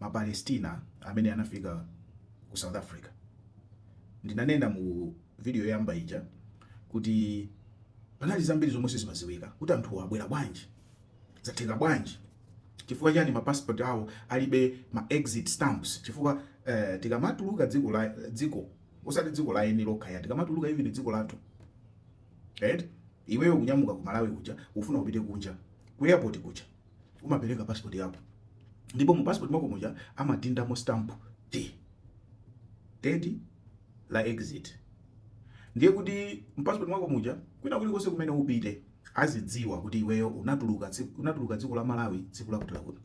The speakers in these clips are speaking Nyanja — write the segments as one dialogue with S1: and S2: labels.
S1: Mapalestina amene anafika ku South Africa. Ndinanena mu video yoyamba ija kuti panali zambiri zomwe sizimaziwika kuti anthuwa abwera bwanji, zatheka bwanji, chifukwa chani ma passport awo alibe ma exit stamps, chifukwa eh, tikamatuluka dziko la dziko osati dziko la eni lokha ya tikamatuluka even dziko lathu right? Iweyo kunyamuka ku Malawi kuja ufuna upite kunja ku airport kuja umapereka passport yako ndipo mu passport mwako muja amadindamo stamp ya date la exit ndiye kuti mu passport mwako muja kwina kulikonse kumene upite azidziwa kuti iweyo unatuluka tsiku- unatuluka dziko la Malawi tsiku lakuti lakuti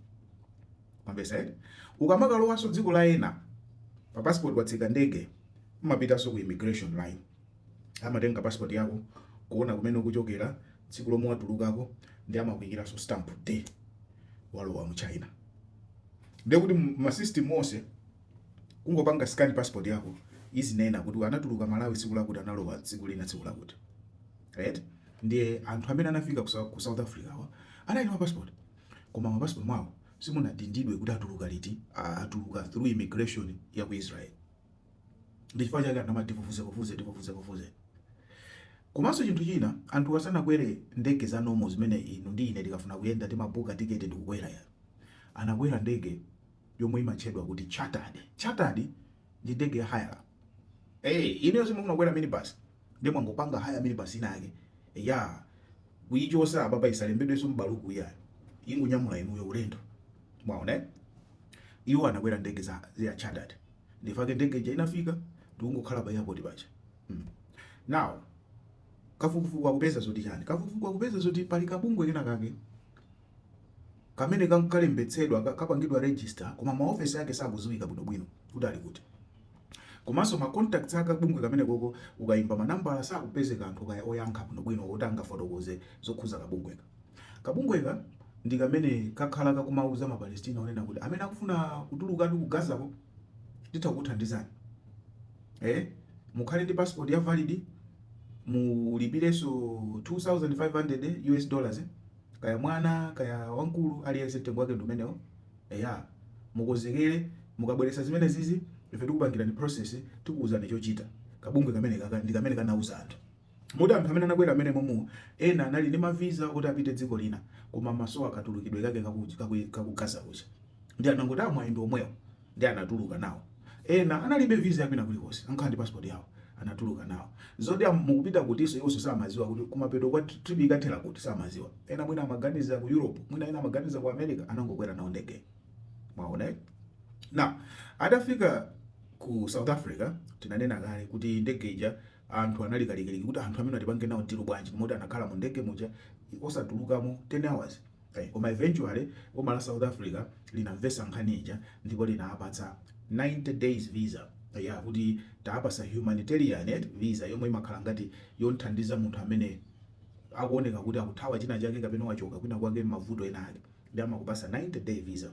S1: mwamvetsa eti ukamakalowanso dziko la ena pa passport watsika ndege umapitanso ku immigration line Amatenga passport yako, kuona kumene ukuchokera, tsiku lomwe watulukako ndi amakuikiranso stamp yoti walowa mu China. Ndiye kuti ma system onse kungopanga scan passport yako izinena kuti anatuluka Malawi tsiku lakuti analowa dziko lina tsiku lakuti. Right? Ndiye anthu amene anafika ku South Africa wa anali ma passport. Koma m'ma passport mwawo simunadindidwe kuti atuluka liti, atuluka through immigration ya ku Israel. Ndi chifukwa chake anthu amati tifufuzefufuze, tifufuzefufuze. Komanso chinthu china, anthuwa sanakwere ndege za normal zimene inu ndi ine tikafuna kuyenda timabooka ticket ndikukwera ya. Anakwera ndege yomwe imatchedwa kuti chartered. Chartered ndi ndege ya hire. Eee, inuyo simufuna kukwera minibus, ndiye mwangopanga hire minibus ina yake, eya, kuichotsa apapa isalembedwenso m'baluku iyayi, ingonyamula inuyo ulendo. mwaona eh? iwo anakwera ndege ya chartered ndifake ndege ija inafika ndikungokhala pa airport paja mm. now kafukufuku akupeza zoti chani kafukufuku akupeza zoti pali kabungwe kena kake kamene kam- kalembetsedwa ka- kapangidwa register koma maofesi ake sakuziwika bwinobwino kuti ali kuti komanso ma contacts a kabungwe kamenekoko ukayimba manambala sakupezeka anthu kaya oyankha bwinobwino oti angafotokoze zokhuza kabungweka Kabungweka ndi kamene kakhala kakumauza ma Palestina onena kuti amene akufuna kutulukatu ku Gaza-ko titha kukuthandizani. Eh, mukhale ndi passport ya valid, mulipirenso 2500 US dollars, eh? kaya mwana kaya wankulu aliyense mtengo wake ndi umenewo. Eya, mukonzekere mukabweretsa zimenezizi ife tikupangirani process tikuuzani chochita. Kabungwe kamenekaka ndi kamene kanauza anthu. Moti anthu amene anakwera mmenemomu ena anali ndi mavisa oti apite dziko lina koma amasowa katulukidwe kake ka ku Gaza kuja ndiye anangoti ah mwayi ndi omwewu ndiye anatuluka nawo. Ena analibe visa ya kwina kulikonse angokhala ndi passport yawo anatuluka nawo. Zoti ah mukupita kutinso iwonso samadziwa kuti kumapeto kwa trip ikathera kuti samadziwa. Ena mwina amaganiza ku Europe mwina ena amaganiza ku America anangokwera nawo ndegeyo. Mwaona eh? Now atafika ku South Africa tinanena kale kuti ndege ija Anthu anali kalikliki kuti anthu amenewa tipange nawo deal bwanji moti anakhala mu ndege muja osatulukamo 10 hours ai koma eventually boma la South Africa linamvesa nkhani ija ndipo linawapatsa 90 days visa ya kuti taapasa humanitarian visa yomwe imakhala ngati yothandiza munthu amene akuoneka kuti akuthawa china chake kapena wachoka kwina kwake mmavuto ena ake nde amakupasa 90 day visa.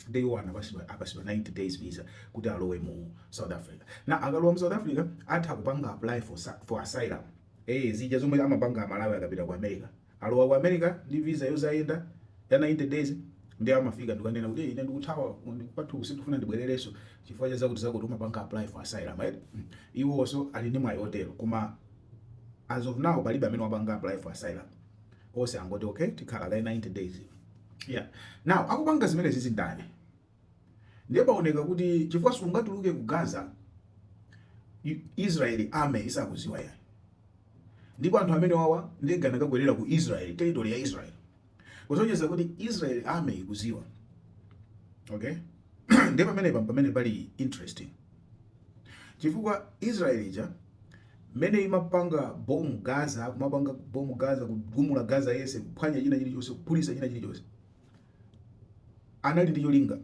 S1: nde iwo apasiwa 90 days visa kuti alowe mu south africa na akalowa mu south africa atha kupanga apply for, for asylum eh zija zomwe amapanga amalawi akapita ku america alowa ku america ndi visa yozayenda ya 90 days nde amafika nkukanena kuti ine ndikuthawa kwathu sindikufuna ndibwerereso chifukwa cha zakuti zakuti umapanga apply for asylum right hmm. iwo also ali ndi mwayi otero koma as of now palibe amene wapanga apply for asylum ose angoti okay tikhala kaye 90 days yeah now akupanga zimenezizi ndani ndiye paoneka kuti chifukwa sungatuluke ku gaza israeli army isakuziwa yani ndipo anthu amenewawa ndege anakakwerera ku israeli territory ya israeli kusonyeza kuti israeli army ikuziwa okay ndiye pamene pamene pali interesting chifukwa israel ija mmene imapanga bomb gaza kumapanga bomb gaza kugumula gaza yese kuphwanya china chilichonse kuphulisa china chilichonse anali ndi cholinga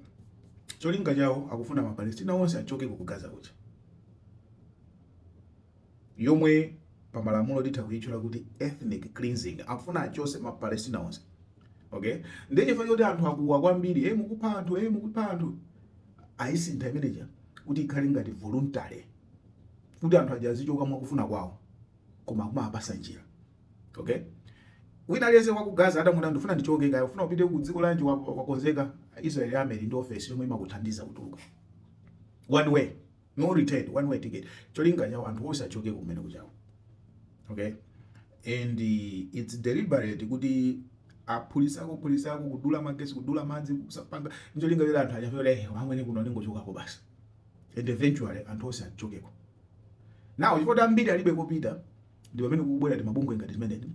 S1: cholinga chawo akufuna mapalestina onse achokeko ku gaza kuja yomwe pa malamulo titha kuitchula kuti ethnic cleansing, akufuna achose ma Palestina onse okay. Ndiye chifukwa choti anthu akuwa kwambiri, hey, eh, mukupha anthu hey, eh, mukupha anthu, ayisintha imeneja kuti ikhale ngati voluntary kuti anthu aja azichoka mwakufuna kwawo koma akumapasa njira okay wina aliyense wa ku Gaza atanena ndifuna ndichoke kaya ufuna upite ku dziko lanji wakonzeka Israel army ili ndi office yomwe imakuthandiza kutuluka one way no return one way ticket cholinga chawo anthu onse achoke kumene kujako okay and uh, it's deliberate kuti aphulisako, phulisako kudula magesi kudula madzi kusapanga ncholinga choti anthu aja afile eh, amwene kuno ndingochokako basi and eventually anthu onse achokeko now chifukwa ambiri alibe kopita ndi pamene kukubwera timabungwe ngati timeneti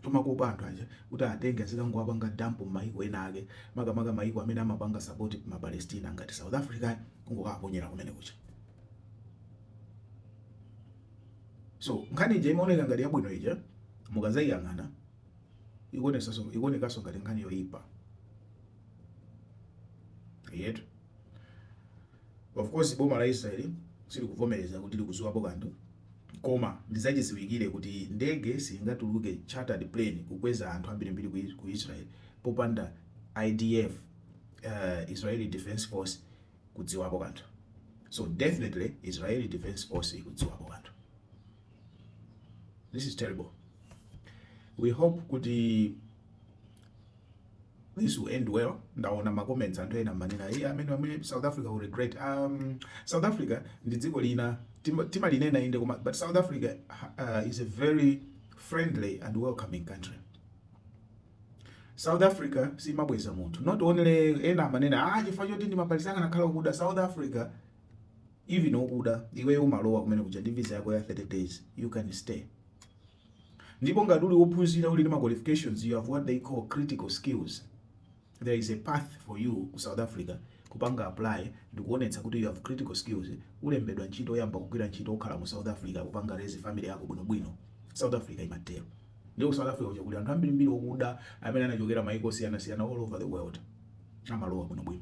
S1: tomakopa anthu aja kuti atenge azikangowapanga dump m'mayiko ena ake makamaka mayiko amene amapanga support ma Palestina ngati South Africa kungokaponyera kumene kuja so nkhani ija imene imaoneka ngati yabwino ija mukazayiyang'ana ikuonekanso ngati nkhani yoyipa yetu Of course boma la Israel silikuvomereza kuti likudziwapo kanthu koma ndizachidziwikire kuti ndege siyingatuluke chartered plane kukweza anthu ambirimbiri ku Israel popanda IDF, uh, eh, Israeli Defense Force kudziwapo kanthu. So definitely Israeli Defense Force ikudziwapo kanthu. This is terrible. We hope kuti this will end well ndaona ma comments anthu ena amanena iye amene amene South Africa will regret um, South Africa ndi dziko lina timalinena inde koma but South Africa uh, is a very friendly and welcoming country South Africa simabweza munthu not only ena amanena ah chifukwa choti ndi ma Palestina akanakhala akuda South Africa even okuda iweyo umalowa kumene kuja ndi visa yako ya 30 days you can stay Ndipo ngati uli wophunzira uli ndi ma qualifications you have what they call critical skills there is a path for you ku South Africa kupanga apply ndikuonetsa kuti you have critical skills olembedwa ntchito oyamba kugwira ntchito okhala mu South Africa kupanga raise family yako bwinobwino South Africa imatero nde ku South Africa kuja kuli anthu ambirimbiri okuda amene anachokera maiko osiyanasiyana all over the world amalowa bwinobwino